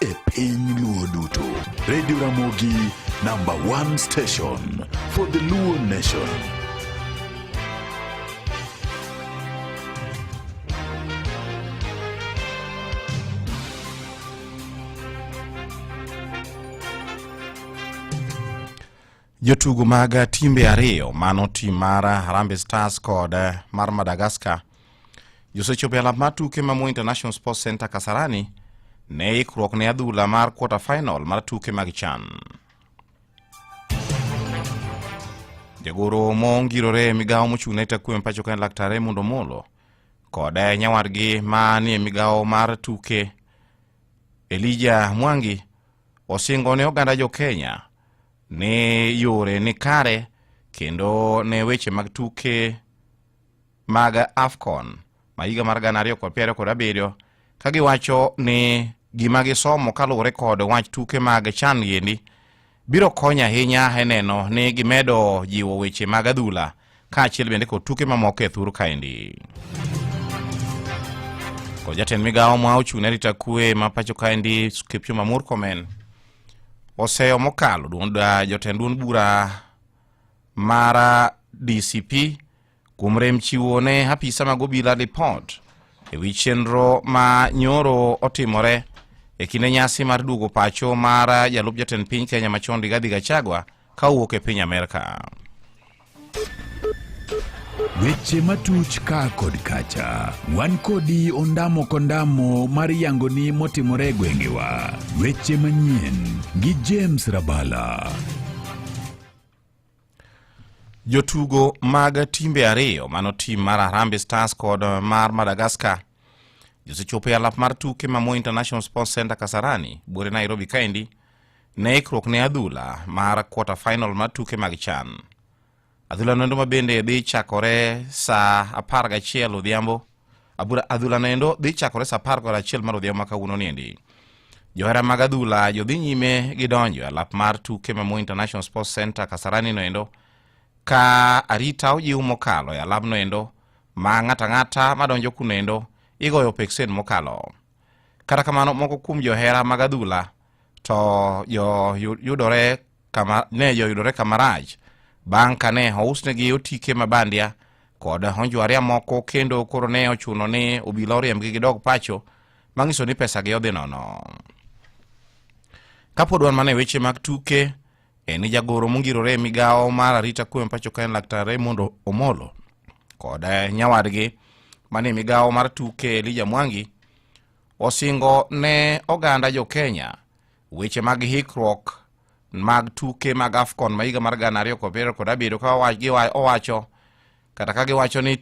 e piny luo duto redio ramogi namba 1 station for the luo nation Jotugo mag timbe ariyo mano tim mar Harambee Stars kod mar Madagascar josechopo e alap mar tuke ma Moi International Sports Center Kasarani ne ikruok ne adhula mar quarter final mar tuke mag CHAN. Jagoro mongirore e migawo mochung' ne takwe mpacho ka en Laktar Raymond Omolo kod nyawadgi ma ni e migawo mar tuke Elija Mwangi osingo ne oganda jo Kenya ne yore ni kare kendo ne weche mag tuke mag afcon ma higa mar gana ariyo kod piero kod abiriyo ka giwacho ni gima gisomo kaluwore kod wach tuke mag chan giendi biro konyo ahinya e neno ni gimedo jiwo weche mag adhula kaachiel bende kod tuke mamoko e thuru kaendi. Kod jatend migawo ma ochung' ne rita kwe ma pacho kaendi Kipchumba Murkomen oseyo mokalo jotend duond bura mara DCP kuom rem chiwo ne apisa mag obila lipot e wi chenro ma nyoro otimore e kinde nyasi mar duogo pacho mar jalup jatend piny Kenya machon Rigathi Gachagua ka owuok e piny Amerka. Weche matuch ka kod kacha, wan kodi ondamo kondamo mar yangoni motimore e gwengewa. Weche manyien gi James Rabala. Jotugo mag timbe ariyo mano tim mar Harambee Stars kod mar Madagascar josechopo e alap mar tuke ma Moi International Sports Center Kasarani, buore Nairobi kaendi ne ikruok ne adhula mar quarter final mar tuke mag chan adhula noendo ma bende dhi chakore saa apar gachiel odhiambo adhula noendo dhi chakore saa apar kod achiel mar odhiambo ma kawuono niendi johera mag adhula jodhi nyime gi donjo e alap mar tuke ma mo international sports center kasarani noendo ka arita ojiw mokalo e alap noendo ma ng'ata ng'ata madonjo kunoendo igoyo peksen mokalo kata kamano moko kuom johera mag adhula to joyudore kama, ne joyudore kama rach bang' ka ne ousnegi otike ma bandia kod onjwaria moko kendo koro ne ochuno ni obila oriembgi gidog pacho mang'iso ni pesagi odhi nono kapod wan mana e weche mag tuke en jagoro mongirore e migawo mar arita kwe pacho ka en laktar raymond omolo kod nyawadgi mane migawo mar tuke elija mwangi osingo ne oganda jo Kenya weche mag hikruok mag tuke mag AFCON ma higa mar gana ariyo kod piero kod abiriyo ka owacho kata ka giwacho ni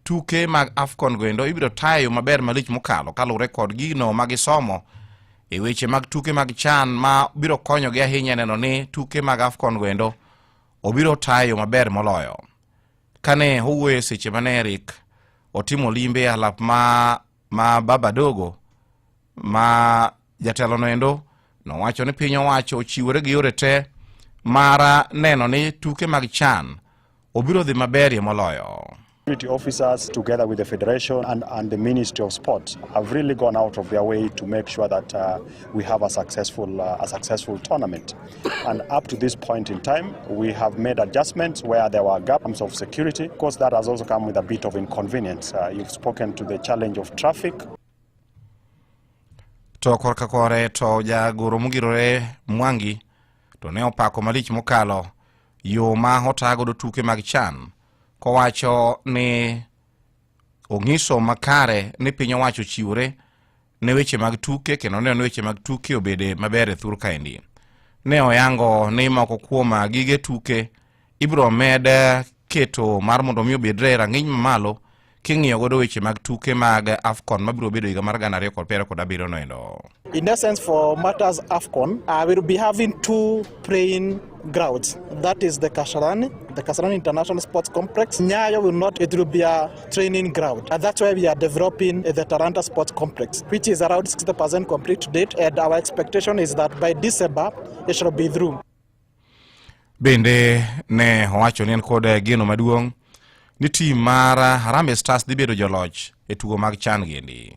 tuke mag AFCON goendo ibiro tayo maber malich mokalo kaluwre kod gino ma gisomo e weche mag tuke mag chan ma biro konyogi ahinya neno ni tuke mag AFCON goendo obiro tayo maber moloyo kane owuoyo seche mane Eric otimo limbe alap ma ma baba dogo ma jatelono endo nowacho ni piny owacho ochiwore gi yore te mar neno ni tuke mag chan obiro dhi maberie moloyo Security officers, together with the Federation and, and the Ministry of Sport, have really gone out of their way to make sure that uh, we have a successful, uh, a successful tournament. And up to this point in time, we have made adjustments where there were gaps of security. Of course, that has also come with a bit of inconvenience. Uh, you've spoken to the challenge of traffic. to korka kore to jagoro mogirore mwangi to ne opako malich mokalo yo ma otagodo tuke mag chan kowacho ni ong'iso makare ni piny owacho chiwore ne weche mag tuke kendo ne one weche mag tuke obede maber e thur kaendi ne oyango ni moko kuom gige tuke ibiro med keto mar mondo mi obedre e rang'iny mamalo king'iyo godo weche mag tuke mag afcon mabiro bedo higa mar gana ariyo kod piero kod abiriyo no endo In essence, for matters AFCON, uh, we'll be having two praying grounds. That is the Kasarani, the Kasarani International Sports Complex. Nyayo will not, it will be a training ground. And that's why we are developing the Taranta Sports Complex, which is around 60% complete to date. And our expectation is that by December, it shall be through. Bende ne owacho ni en kod eh, geno maduong' ni tim mar eh, Harambee Stars dhi bedo joloch e tugo mag chan giendi.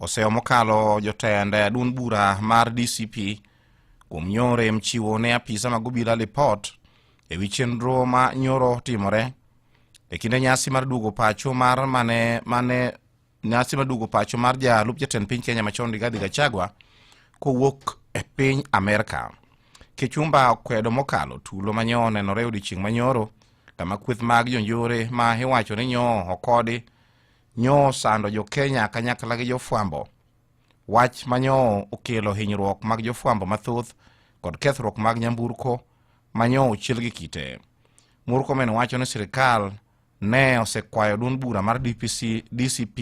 Oseyo mokalo jotend duond bura mar DCP kuom nyoro em chiwo ne apisa mag obila lipot e wi chenro ma nyoro timore e kinde nyasi mar duogo pacho mar mane mane nyasi mar duogo pacho mar jalup jatend piny Kenya machon Rigathi Gachagua kowuok e piny Amerka. Kichumba okwedo mokalo tulo ma nyo onenore e odiechieng' manyoro kama kweth mag jonjore ma iwacho ni nyo okodi Nyo sando jo Kenya kanyakla gi jofwambo. Wach ma nyo okelo hinyruok mag jofwambo mathoth kod kethruok mag nyamburko ma nyo ochiel gi kite. Murkomen wacho ni sirikal ne osekwayo duond bura mar DPC, DCP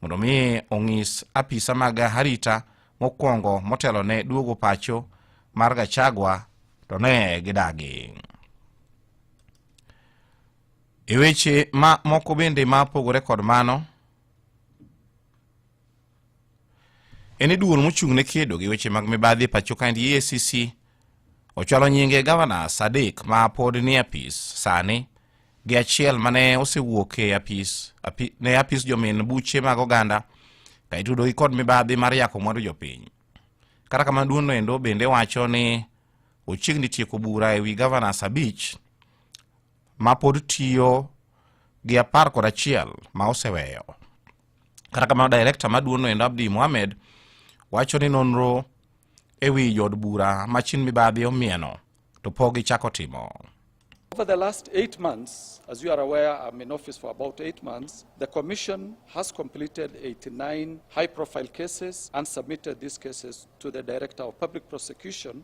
mondo mi ong'is apisa mag harita mokwongo motelo ne duogo pacho mar Gachagua to ne gidagi. E weche ma moko bende ma opogore kod mano, en ni duol mochung' ne kedo gi weche mag mibadhi e pacho kaendi EACC ochwalo nyinge gavana Sadik ma pod ni apis sani gi achiel ma ne osewuok e apis, api, ne apis jomin buche mag oganda ka itudogi kod mibadhi mar yako mwandu jopiny. Kata kamano duono endo bende wacho ni ochiegni tieko bura e wi gavana Sabich ma pod tiyo gi apar kod achiel ma oseweyo. Kata kamano direkta maduong'no endo Abdi Mohamed wacho ni nonro e wi jood bura ma chin mibadhi omieno to pok gichako timo. Over the last eight months, as you are aware, I'm in office for about eight months, the Commission has completed 89 high-profile cases and submitted these cases to the Director of Public Prosecution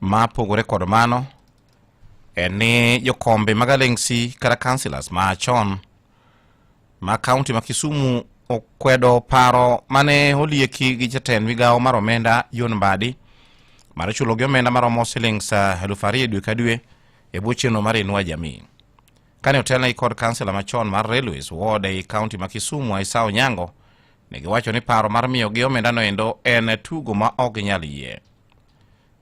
ma pogore kod mano en ni jokombe mag alengsi kata councilors ma chon ma kaunti ma kisumu okwedo paro mane olieki gi jatend migawo mar omenda john mbadi mar chulogi omenda maromo silings ah, elufu ariyo dwe ka dwe e bwo chenro mar inua jamii kane otelnegi kod kansela machon mar railways ward ei kaunti ma kisumu aisa onyango ne giwacho ni paro mar miyogi omendano endo en tugo ma ok ginyal yie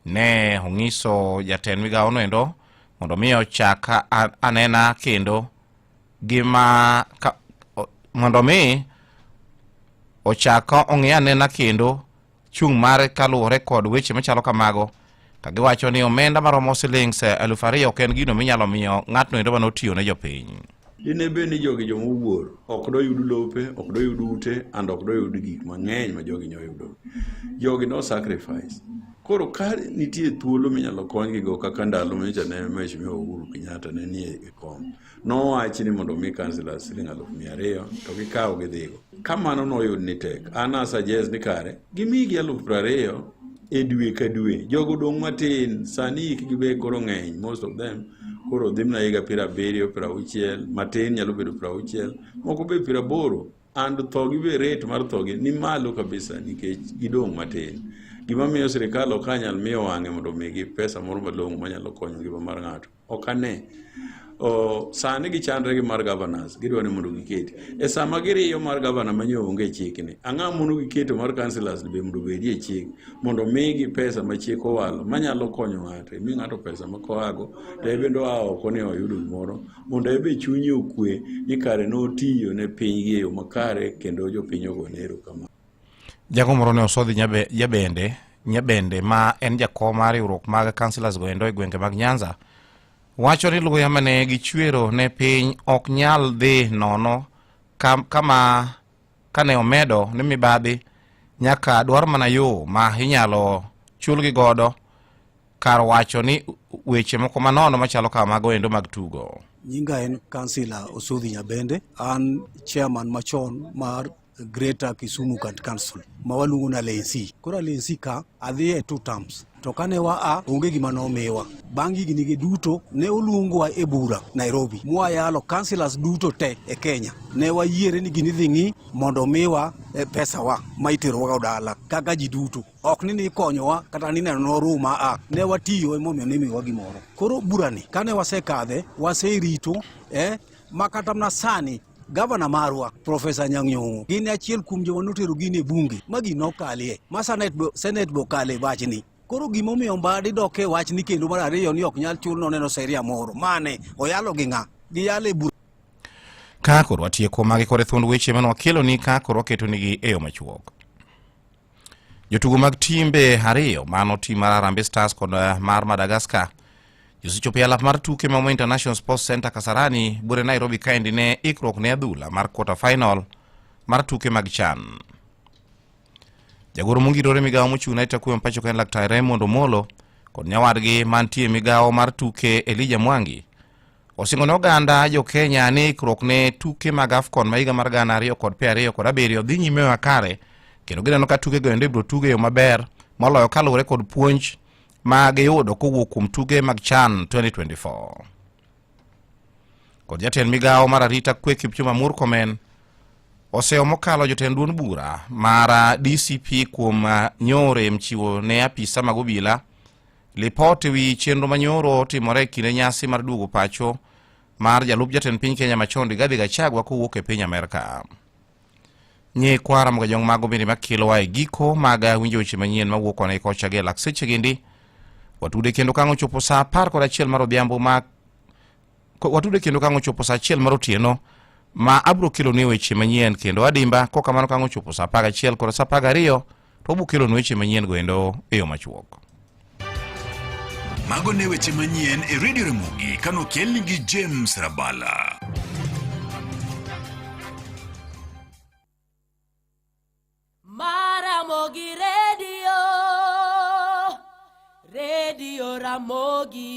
ne onyiso jatend migawo noendo mondo mi ochak anena kendo gima ka, mondo mi ochak ong'i anena kendo chung' mare kaluwore kod weche machalo kamago ka giwacho ni omenda maromo silings eh, eluf ariyo ok en gino minyalo miyo ng'atno endo mane otiyo ne jopiny Dine bed ni jogi joma owuor, ok doyud lope, ok doyud ute, and ok doyud gik mang'eny ma jogi nyoyudo. Jogi no sacrifice. Koro ka nitie thuolo minyalo konygi go kaka ndalo mecha ne Mheshimiwa Uhuru Kenyatta ne nie e kom, nowach ni mondo omi councillors siling' aluf mia ariyo to gikaw gidhigo. Ka mano noyud ni tek, an asajez ni kare gimigi alufu piero ariyo e dwe ka dwe. Jogo dong' matin, sani hikgi be koro ng'eny, most of them koro dhi mana higa piero abiriyo, piero auchiel, matin nyalo bedo piero auchiel, moko be piero aboro and thogi be rate mar thogi ni malo kabisa nikech gidong' matin. Gima miyo sirikal ok anyal miyo wang'e mondo omigi pesa moro malong'o manyalo konyo ngima mar ng'ato. Ok ane. Oh, sani gichandre gi mar governors gidwa ni mondo giketi e sama giriyo mar governor manyo onge chikni ang'a mondo giketo mar councilors be mondo bedi e chik mondo migi pesa ma chik owalo manyalo konyo ng'ato mi ng'ato pesa ma koago to ebende oa oko ni oyudo gimoro mondo ebe chunye okwe ni kare notiyo ne pinygi e yo makare kendo jopiny ogone erokamano Jago moro ne osodhi Nyabende, Nyabende ma en jakom mar riwruok mag councilors goendo e gwenge mag Nyanza wacho ni luya mane gichwero ne piny ok nyal dhi nono kama kane omedo ni mibadhi nyaka dwar mana yo ma inyalo chulgi godo kar wacho ni weche moko manono machalo kama mago endo mag tugo. Nyinga en kansila Osudhi Nyabende, an chairman machon mar Greater Kisumu County Council ma waluongo na Lensi. Koro Lensi ka adhi e two terms to kane waa onge gima nomiwa. Bang' higinigi duto ne oluongwa e bura Nairobi mwayalo councillors duto te e Kenya ne wayiere ni gini dhi ng'i mondo miwa e pesawa ma iterowaga dala kaka ji duto ok ni nikonyowa kata ni neno noruma a ne watiyo emomiyo nimiwa gimoro. Koro burani kane wasekadhe waserito eh, ma kata mana sani Gavana marwa Profesa Anyang' Nyong'o gin achiel kuom joma notero gini e bunge ma gino okalie ma senet be senet be okale wachni koro gima omiyo mbadi dok e wachni kendo mar ariyo ni ok nyal chul noneno seria moro mane oyalo gi ng'a giyalo e bura Ka koro atieko magi kod thuond weche mane wakeloni ka koro waketonigi e yo machuok. Jotugo mag timbe ariyo mano tim mar Harambee Stars kod eh, mar Madagascar josechopo e alap mar tuke ma International Sports Center Kasarani bure Nairobi kaendi ne ikruok ne adhula mar quarter final mar tuke mag chan. Jagoro mongirore migawo mochung' ne Takuya Mpacho ka en Laktar Raymond Omolo kod nyawadgi mantie migawo mar tuke Elija Mwangi Osingo ne oganda jo Kenya ni ikruok ne tuke mag AFCON ma higa mar gana ariyo kod piero ariyo kod abiriyo dhi nyime makare kendo gineno ka tuke go endo ibiro tuge yo maber moloyo kaluwore kod puonj ma giyudo kowuok kuom tuge mag CHAN 2024. Kod jatend migawo mar arita kwe Kipchumba Murkomen oseyo mokalo jotend duond bura mar DCP kuom nyore mchiwo ne apisa mag obila Lipot e wi chenro manyoro timore e kinde nyasi mar duogo pacho mar jalup jatend piny Kenya machon Rigathi Gachagua kowuok e piny Amerka. Nye kwara mga jong mago bende makilo wa e giko mag winjo weche manyien mawuok kona ikocha gi lak seche gindi. Watude kendo kango chopo saa apar kod achiel mar odhiambo ma watude kendo kango chopo saa achiel mar otieno ma abro kelo ni weche manyien kendo adimba kokamano kango chopo saa apar achiel kod saa apar ariyo to wabiro kelonu weche manyien goendo e yo machuok. Mago ne weche manyien e redio Ramogi kano kelni gi James Rabala. Maramogi Radio, Radio Ramogi.